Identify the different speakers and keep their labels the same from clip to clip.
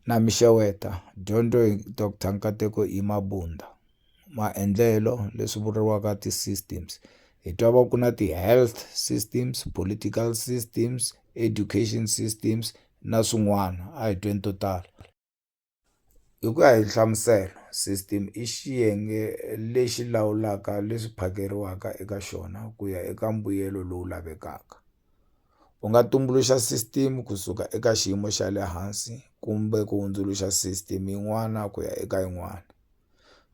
Speaker 1: Na mi xeweta, dyondzo hi Doctor Nkateko E Mabunda. Maendlelo leswi vuriwaka ti systems hi twa va ku na ti health systems, political systems, education systems na swin'wana a hi tweni to tala hi ku ya hi nhlamuselo system i xiyenge lexi lawulaka leswi phakeriwaka eka xona ku ya eka mbuyelo lowu lavekaka. u nga tumbuluxa system kusuka eka xiyimo xa le hansi kumbe ku hundzuluxa system yin'wana ku ya eka yin'wana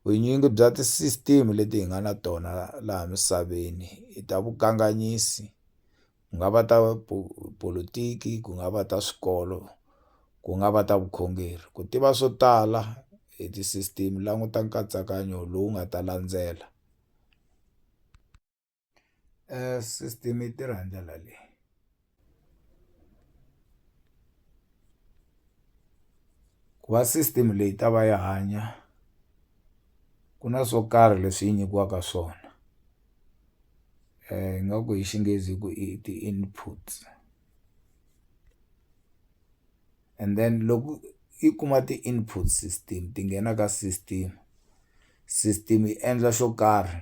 Speaker 1: vunyingi bya ti-system leti hi nga na tona laha misaveni i ta vukanganyisi ku nga va ta politiki ku nga va ta swikolo ku nga va ta vukhongeri ku tiva swo tala hi ti-system languta nkatsakanyo lowu nga ta landzela. um system yi tirha hi ndlela leyi ku va system leyi ta va yi hanya ku na swo karhi leswi yi nyikiwaka swona um nga ku hi xinghezi ku i ti-inputs and then loko yi kuma ti-input system ti nghena ka system system yi endla xo karhi.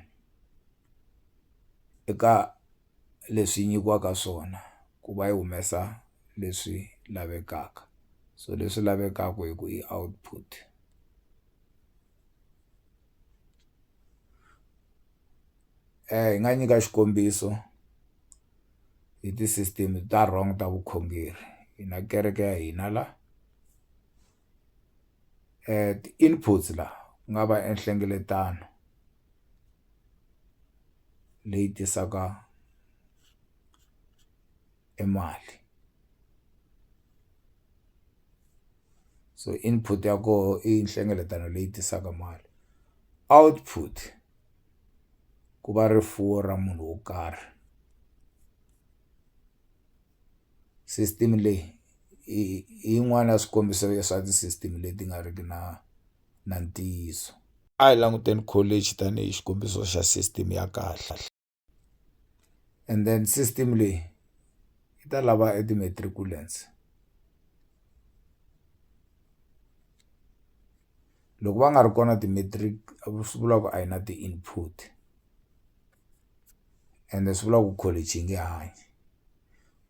Speaker 1: eka leswi nyikiwaka swona ku va yi humesa leswi lavekaka so leswi lavekaka hi ku i output hi nga nyika xikombiso hi ti-system ta wrong ta vukhongeri hi na kereke ya hina la ti-inputs la ku nga va enhlengeletano. leyi tisaka e mali so input ya koho i nhlengeletano leyi tisaka mali output ku va rifuwo ra munhu wo karhi system leyi hi yin'wani ya swikombiso swa ti-system leti nga riki na. na ntiyiso. A hi languteni kholichi tanihi xikombiso xa sisiteme ya kahle. And then sisiteme leyi yi ta lava e ti-matriculants loko va nga ri kona ti-matric swi vula ku a yi na ti-input ende swi vula ku kholichi yi nge hanyi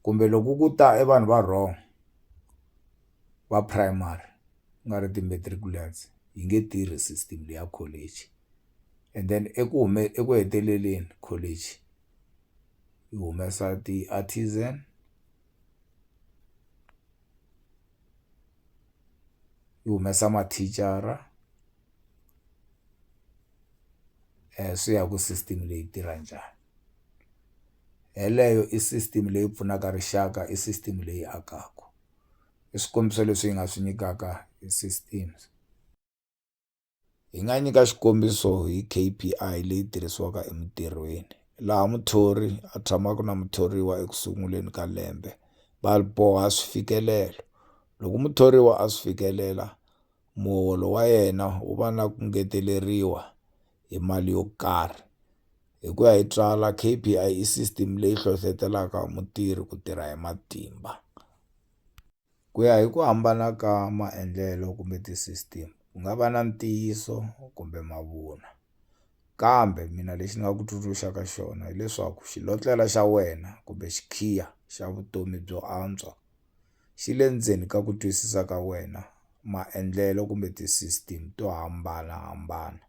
Speaker 1: kumbe loko ku ta e vanhu va wrong va primary ku nga ri ti-matriculants yi nge tirhi system leyi ya college and then eku eku heteleleni college yi humesa ti-artisan yi humesa mathicara swi ya hi ku system leyi yi tirha njhani yeleyo i system leyi pfunaka rixaka i system leyi akaka. i swikombiso leswi hi nga swi nyikaka hi systems hi nga nyika xikombiso hi K_P_I leyi tirhisiwaka emintirhweni laha muthori a tshamaka na muthoriwa eku sunguleni ka lembe va boha swifikelelo loko muthoriwa a swi fikelela muholo wa yena wu va na ku ngeteleriwa hi mali yo karhi hi ku ya hi Tswala K_P_I i system leyi hlohletelaka mutirhi ku tirha hi matimba ku ya hi ku hambana ka maendlelo kumbe ti-system ku nga va na ntiyiso kumbe mavunwa kambe mina lexi ni nga ku tsundzuxaka xona hileswaku xilotlela xa wena kumbe xikhiya xa vutomi byo antswa xi le ndzeni ka ku twisisa ka wena maendlelo kumbe ti-system to hambanahambana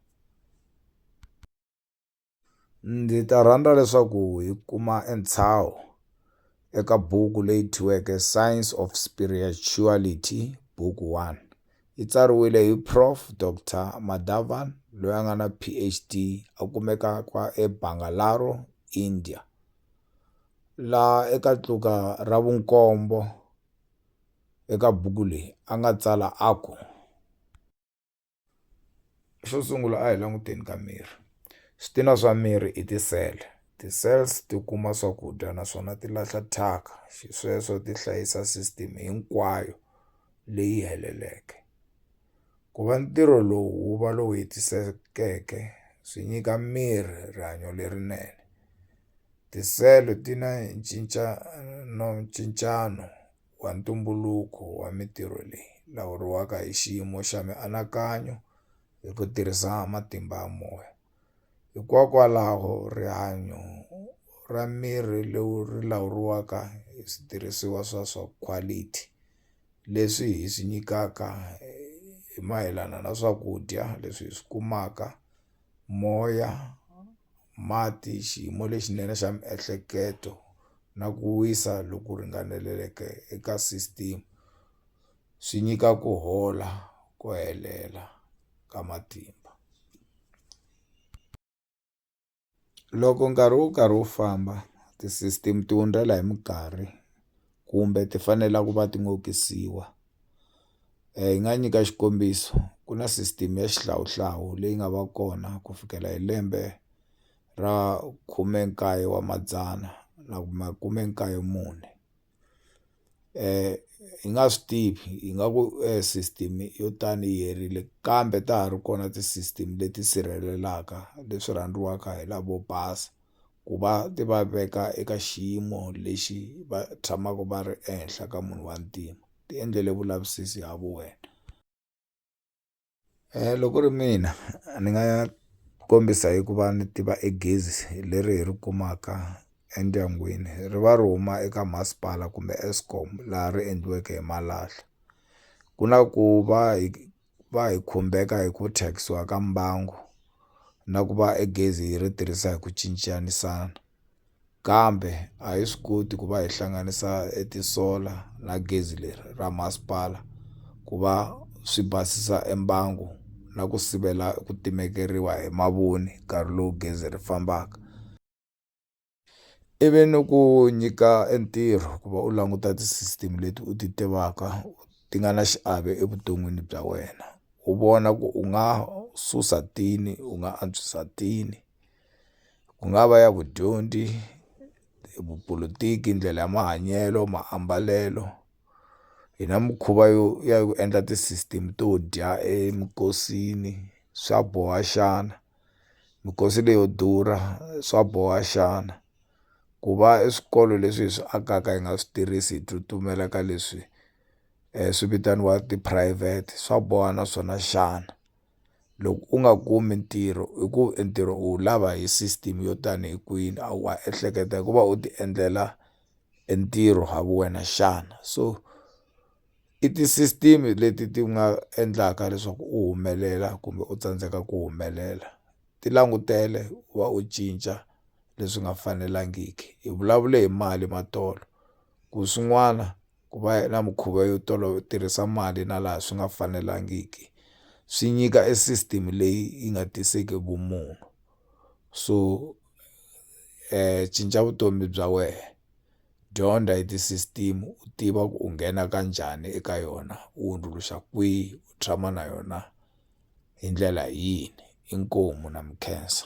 Speaker 1: ndzi ta rhandza leswaku hi kuma entshaho eka buku leyi thyiweke science of spirituality buku one yi tsariwile hi prof dr madavan loyi a nga na phd a kumeka kwa ebangalaro india la eka tluka ra vunkombo eka buku leyi a nga tsala a ku xo sungula a hi languteni ka miri switina swa miri i ti-cell ti-cells ti kuma swakudya naswona ti lahla thyaka xisweswo ti hlayisa system hinkwayo leyi heleleke. Ku va ntirho lowu wu va lowu hetisekeke swi nyika miri rihanyo lerinene tisele ti na ncincano ncincano wa ntumbuluko wa mintirho leyi lawuriwaka hi xiyimo xa mianakanyo hi ku tirhisa matimba ya moya. Hikokwalaho, rihanyo ra mirhi lowu ri lawuriwaka hi switirhisiwa swa swa khwalithi leswi hi swi nyikaka hi mayelana na swakudya leswi hi swi kumaka moya mati xiyimo lexinene xa miehleketo na ku wisa loku ringaneleke eka system swi nyika ku hola ku helela. ka matimba. Loko nkarhi wu karhi wu famba ti-system ti hundzela hi minkarhi kumbe ti fanela ku va ti hi nga nyika xikombiso ku na system ya xihlawuhlawu leyi nga va kona ku fikela hi lembe ra khume nkaye wa madzana na makume nkaye mune. hi nga swi tivi hi nga ku system yo tani yi herile kambe ta ha ri kona ti-system leti sirhelelaka leswi rhandziwaka hi lavo basa ku va ti va veka eka xiyimo lexi va tshamaka va ri ehenhla ka munhu wa ntima ti endlele vulavisisi ha vuwena. Loko ku ri mina ni nga kombisa hi ku va ni tiva e gezi leri hi ri kumaka endyangwini ri va ri huma eka masipala kumbe Eskom laha ri endliweke hi malahla ku na ku va hi va hi khumbeka hi ku thyakisiwa ka mbangu na ku va e gezi hi ri tirhisa hi ku cincanyisana. Kambe a hi swi koti ku va hi hlanganisa e tisola na gezi leri ra masipala ku va swi basisa e mbangu na ku sivela ku timekeriwa hi mavoni nkarhi lowu gezi ri fambaka ivi ni ku nyika e ntirho ku va u languta ti-system leti u ti tivaka ti nga na xiave evuton'wini bya wena u vona ku u nga susa tini u nga antswisa tini. ku nga va ya vudyondzi vupolotiki ndlela ya mahanyelo maambalelo hi na mikhuva yo ya ku endla ti-system to dya eminkosini swa boha xana minkosi leyo durha swa boha xana ku va i swikolo leswi hi swi akaka hi nga swi tirhisi hi tsutsumela ka leswi swi vitaniwa tiphurayivhete swa boha na swona xana. loko u nga kumi ntirho i ku e ntirho u wu lava hi system yo tani hi kwini a wa ehleketa hi ku va u ti endlela e ntirho ha vu wena xana so i ti-system leti ti nga endlaka leswaku u humelela kumbe u tsandzeka ku humelela ti langutele u va u cinca leswi nga fanelangiki hi vulavule hi mali matolo ku swin'wana. ku va na mikhuva yo tirhisa mali na laha swi nga fanelangiki swi nyika e system leyi yi nga tiseki vumunhu so cinca vutomi bya wehe dyondza hi ti-system u tiva ku u nghena ka njhani eka yona u hundzuluxa kwihi u tshama na yona hi ndlela yini inkomu na mi khensa.